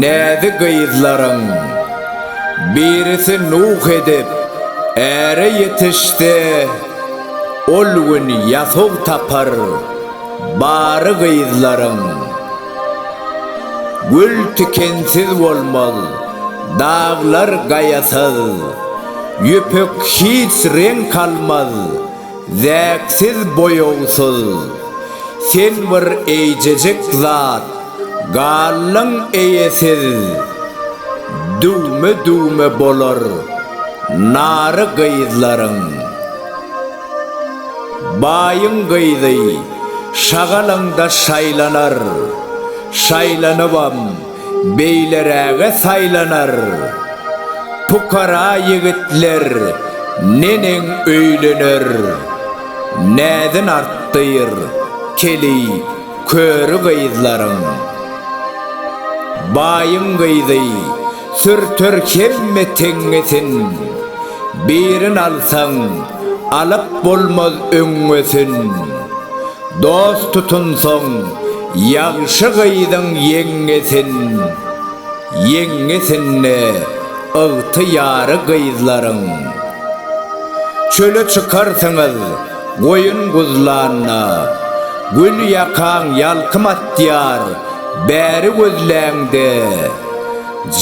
Näzi gyzlaryň birisi nuh edip, äre ýetişse, ol gün ýasog tapar, bary gyzlaryň. Gül tikensiz bolmaz, daglar gaýasyz, ýüpek hiç reňk almaz, Zäksiz boýagsyz, sen bir eýjejik zat, Gallyň eýesiz, düwme-düwme bolar nary gyzlaryň. Baýyň gyzy şagalaňda şaýlanar, şaýlanybam. beýleräge saýlanar. Pukara ýigitler neneň öýlener. Näzin artdyr, keli, köri gyzlaryň. Baýyň gyzy sürter hemme teňňesin. Birin alsaň, alyp bolmaz öňňesin. Dost tutunsoň, Ýagşy gyzyň ýeňňesin, ýeňňesinde ygtyýary gyzlaryň. Çöle çykarsyňyz, goýun guzlanda, gül ýakaň ýalkym atýar, bäri gözläňde,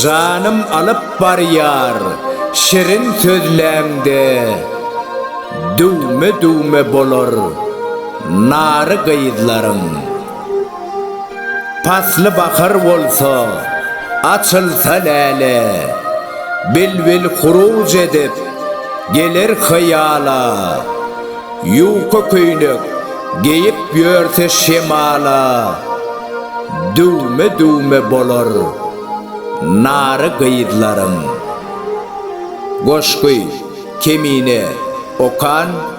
janym alyp barýar, şirin sözläňde, düwme-düwme bolar. Nary gyzlaryň pasly bahar bolsa, Açylsa läle, bilbil huruj edip, geler hyýala, Ýuka köýnek geýip ýörse şemala, Düwme-düwme bolar nary gyzlaryň. Goşgy, Kemine, Okan.